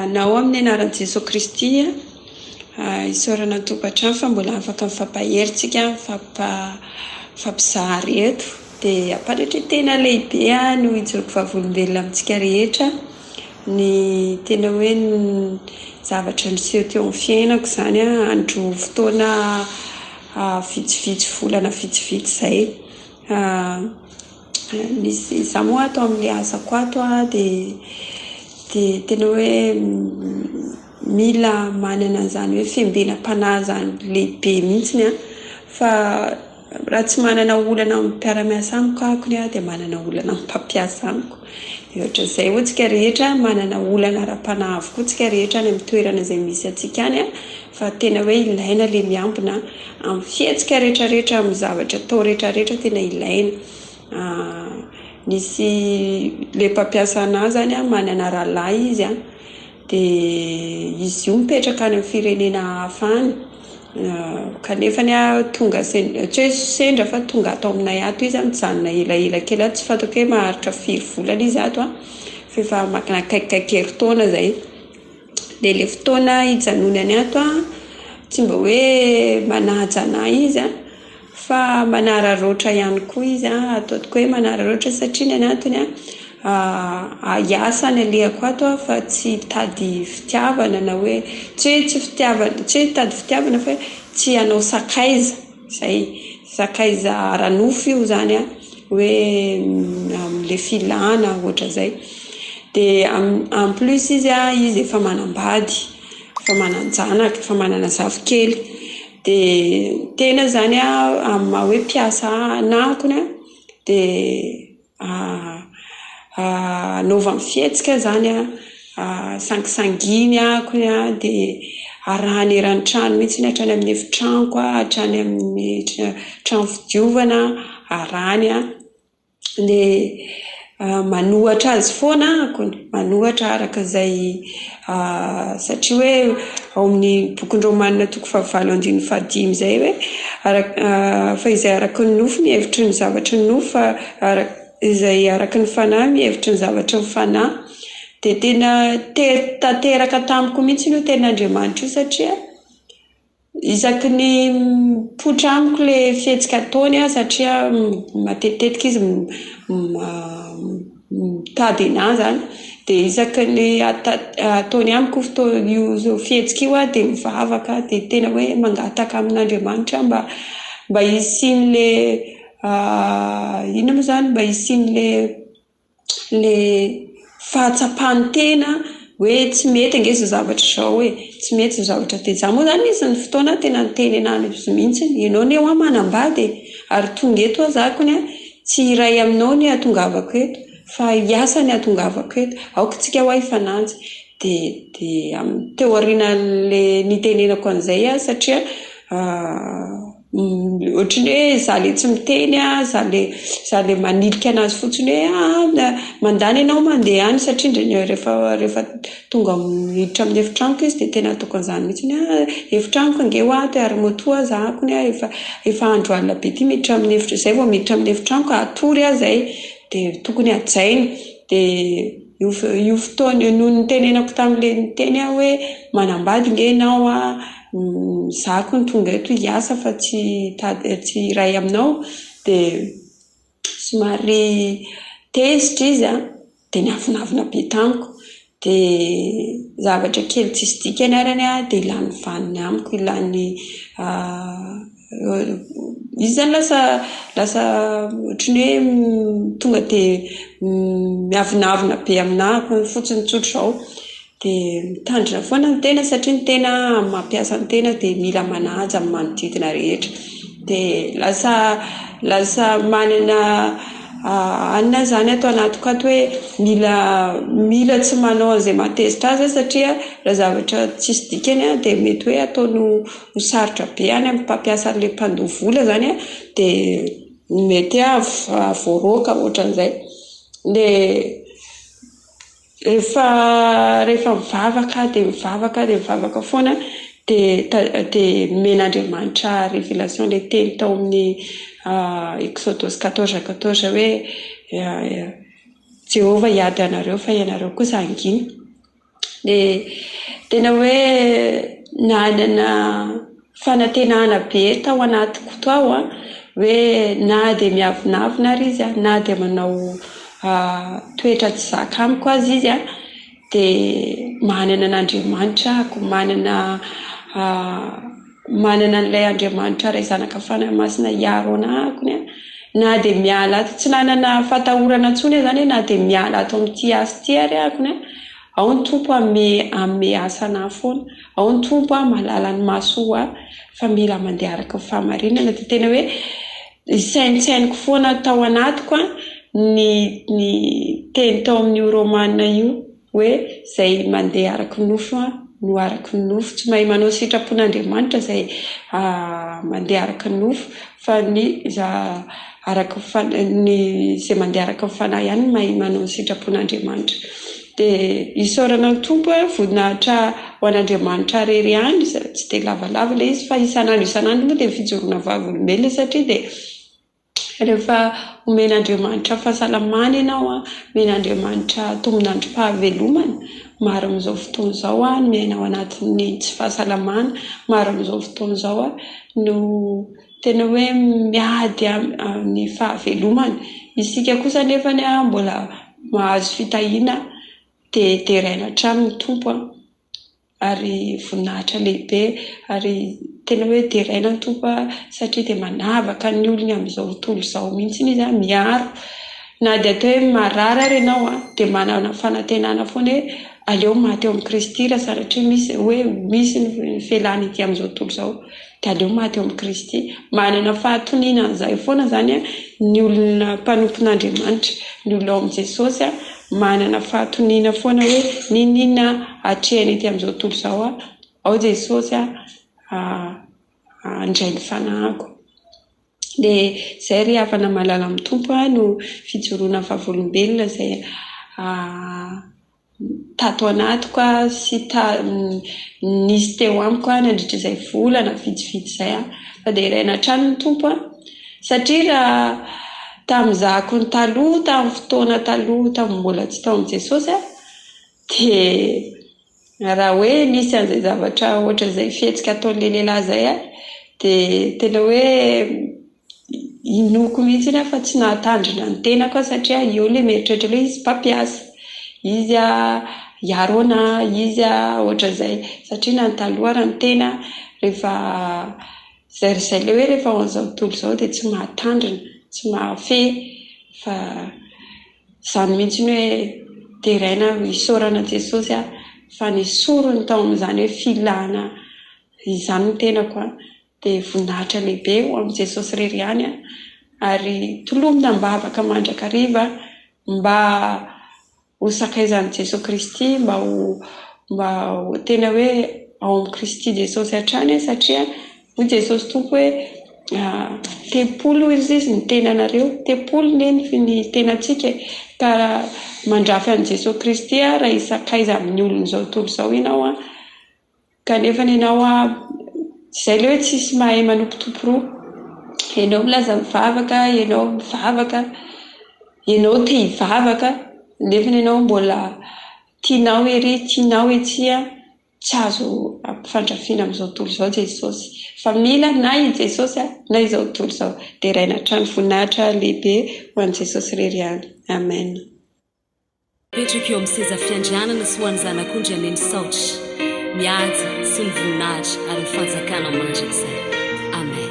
Na ao amin'ny anaran'i Jesoa Kristy isaorana ny tokantrano fa mbola afaka mifampahery tsika mifampizary eto dia ampanatreo tena lehibe no hijoroako vavolombelona amintsika rehetra ny tena hoe ny zavatra niseho teo amin'ny fiainako izany andro fotoana vitsivitsy volana vitsivitsy izay Misy za moa ato amin'ny asako ato a de de tena hoe mila manana an'zany hoe fiambenam-panahy zany lehibe mihitsiny a. Fa raha tsy manana olana amin'ny mpiara-miasa amiko aho koa dia manana olana amin'ny mpampiasa amiko. De ohatran'izay hoe tsika rehetra manana olana ara-panahy avokoa tsika rehetra any amin'ny toerana izay misy antsika any a. Fa tena hoe ilaina le miambina am fihetsika rehetra rehetra am zavatra atao rehetra rehetra tena ilaina a misy le mpampiasa anah zany a manana rahalahy izy a de izy io mipetraka any am firenena hafa any kanefany a tonga tsy hoe sendra fa tonga ato aminay ato izy a mijanona elaela kely ato tsy fantako hoe maharitra firy volana izy ato a f'efa maka akaikikaiky herintaona zay. dia ilay fotoana hijanonany ato an, tsy mba hoe manaja ana izy an, fa manararaotra ihany koa izy an, ataoko hoe manararaotra satria ny anatony an, hiasa no alehako ato an, fa tsy hitady fitiavana na hoe tsy hoe tsy fitiavana tsy hoe hitady fitiavana fa hoe tsy hanao sakaiza. Izay, sakaiza ara-nofo io izany an, hoe amin'ilay filana ohatra izay. Dia en plus izy an, izy efa manambady, efa manan-janaka, efa manana zafikely. Dia ny tena izany an, amin'ny maha hoe mpiasa anakony an, dia. anaovany fihetsika izany an, sangisanginihako dia arahany eran'ny trano mihintsy iny hatrany amin'ny efitranoko hatrany amin'ny trano fidiovana arahany an, dia manohatra azy foana aho, manohatra araka izay A satria hoe ao amin'ny bokin'i Rômana toko fahavalo andininy fahadimy izay hoe arak fa izay araka ny nofo mihevitry ny zavatra ny nofo fa arak izay araka ny fanahy mihevitry ny zavatra ny fanahy. Dia tena tery tanteraka tamiko mihitsy io tenin'Andriamanitra io satria Isaky ny mipoitra amiko ilay fihetsika ataony aho satria matetitetika izy mitady ny ahy izany. Dia isaky ny ata- ataony amiko io fotoa- io fihetsika io aho dia mivavaka aho. Dia tena hoe mangataka amin'Andriamanitra aho mba mba hisian'ilay inona moa izany? Mba hisian'ilay ilay fahatsapany tena hoe tsy mety ange izao zavatra izao e, tsy mety izao zavatra dia zany moa izany misy ny fotoana tena nitenenany izy mihintsy hoe ianao anie hoa manambady e, ary tonga eto hoa za kony an, tsy hiray aminao ny ahatongavako eto fa hiasa ny ahatongavako eto, aoka isika hoa hifananja dia dia teo aorian'ilay nitenenako an'izay aho satria Ohatran'ny hoe izaho ilay tsy miteny an, izaho ilay izaho ilay manilika an'azy fotsiny hoe an, mandany ianao mandeha any satria indrindra rehefa rehefa tonga amin'ny miditra amin'ny efitranoko izy dia tena ataoko an'izany mihitsy ny hoe efitranoko ange ho ato e, ary moto aza ako ny ahy efa efa andro alina be ity miditra amin'ny efitra izay vao miditra amin'ny efitranoko hatory aho izay dia tokony hajaina dia io io fotoana io noho ny nitenenako tamin'ilay niteny aho hoe manambady ange ianao an Izaho kony tonga eto hiasa fa tsy hitady tsy hiray aminao dia somary tezitra izy an, dia niavonavona be tamiko. Dia zavatra kely tsisy dikany ary anie dia lany vaniny amiko ilany izy izany lasa lasa ohatran'ny hoe tonga dia miavonavona be aminà fotsiny tsotra izao. Dia mitandrina foana ny tena satria ny tena amin'ny maha mpiasa ny tena dia mila manaja ny manodidina rehetra. Dia lasa lasa manana anona izany ato anatiko ato hoe mila mila tsy manao an'izay mahatezitra ahy aho satria raha zavatra tsisy dikany dia mety hoe ataony ho ho sarotra be any amin'ny mpampiasa an'ilay mpandoa vola izany an, dia mety hoe hahavoaroaka ohatran'izay. Dia Rehefa rehefa mivavaka aho dia mivavaka dia mivavaka foana dia ta- dia nomen'Andriamanitra révélation ilay teny tao amin'ny Exodus quatorze quatorze hoe Jehovah hiady anareo fa ianareo kosa hangina. Dia tena hoe nanana fanantenana be tao anatiko tao hoe na dia miavonavona ary izy na dia manao toetra tsy zaka amiko aza izy an, dia manana an'Andriamanitra aho. Manana manana an'ilay Andriamanitra Ray, Zanaka, Fanahy Masina hiaro ana aho an. Na dia miala ato tsy nanana fatahorana intsony aho izany hoe na dia miala ato amin'ity asa ity ary aho an. Ao ny Tompo a me ame asanah foana ao ny Tompo a malala ny masoh a fa mila mandeha araka ny fahamarinana dia tena hoe isaintsainiko foana tao anatiko a ny ny teny tao amin'io romana io hoe izay mandeha araka ny nofo a no araka ny nofo tsy mahay manao sitrapon'Andriamanitra izay mandeha araka ny nofo Fa ny za araka ny fanahy, ny izay mandeha araka ny fanahy ihany no mahay manao ny sitrapon'Andriamanitra. Dia isaorana ny Tompo hoe voninahitra ho an'Andriamanitra irery ihany, sady tsy dia lavalava ilay izy fa isan'andro isan'andro moa dia fijoroana vavolombelona satria dia rehefa omen'Andriamanitra fahasalamana ianao an, omen'Andriamanitra tombon'androm-pahavelomana Maro amin'izao fotoana izao no miaina ao anatin'ny tsy fahasalamana. Maro amin'izao fotoana izao no tena hoe miady amin'ny fahavelomany. Isika kosa anefa mbola mahazo fitahiana dia deraina hatrany ny Tompo ary voninahitra lehibe. Ary tena hoe deraina ny Tompo satria dia manavaka ny olony amin'izao tontolo izao mihitsy Izy, miaro. Na dia toa hoe marary ary ianao an, dia manana fanantenana foana hoe aleo maty eo amin'i Kristy raha sanatria misy izay hoe misy ny fialana ety amin'izao tontolo izao, dia aleo maty eo amin'i Kristy. Manana fahatoniana an'izay foana izany an, ny olona mpanompon'Andriamanitra. Ny olona ao amin'i Jesosy an, manana fahatoniana foana hoe n'inon'inona atrehina ety amin'izao tontolo izao an, ao Jesosy an, handray ny fanahiko. dia izay ry havana malala amin'ny Tompo a no fijoroana ny vavolombelona izay tato anatiko a sy nisy teo amiko a nandritra izay volana vitsivitsy izay a, fa dia hiraina hatrany ny Tompo a, satria raha tamin'ny zahako ny taloha tamin'ny fotoana taloha tamin'ny mbola tsy tao amin'i Jesosy a dia Raha hoe misy an'izay zavatra ohatr'izay fihetsika ataon'ny lehilahy izay aho dia tena hoe inoako mihitsy iny aho fa tsy nahatandrina ny tenako aho satria eo ilay mieritreritra hoe izy mpampiasa, izy hiaro ana, izy ohatr'izay. Satria na ny taloha ary ny tena rehefa izay ry izay ilay hoe rehefa ao amin'izao tontolo izao dia tsy mahatandrina, tsy mahafehy fa Izany mihitsy ny hoe deraina ho isaorana Jesosy aho fa ny sorony tao amin'izany hoe filana izany ny tenako dia voninahitra lehibe ho amin'i Jesosy irery ihany an! ary tolomina am-bavaka mandrakariva mba ho sakaizan'i Jesoa Kristy mba ho mba ho tena hoe ao amin'i Kristy Jesosy hatrany an! satria Hoy Jesosy Tompo hoe, Tempoly hoy izy izy ny tenanareo. Tempoly neny ny tenantsika e. Ka mandrafy an'i Jesosy Kristy ary hisakaiza amin'ny olon'izao tontolo izao ianao an. Kanefa ny anao izay ilay hoe tsisy mahay manompo Tompo roa. Ianao milaza mivavaka, ianao mivavaka, ianao te hivavaka, nefa ny anao mbola tianao ery, tianao etsy an. tsy azo ampifandrafiana amin'izao tontolo izao Jesosy fa mila na i Jesosy na izao tontolo izao deraina hatrany, voninahitra lehibe ho an'i Jesosy irery ihany Amen. Apetrako eo amin'ny seza fiandrianana sy ho an'ny Zanak'ondry anie ny saotra, ny haja sy ny voninahitra ary ny fanjakana mandrakizay. Amen.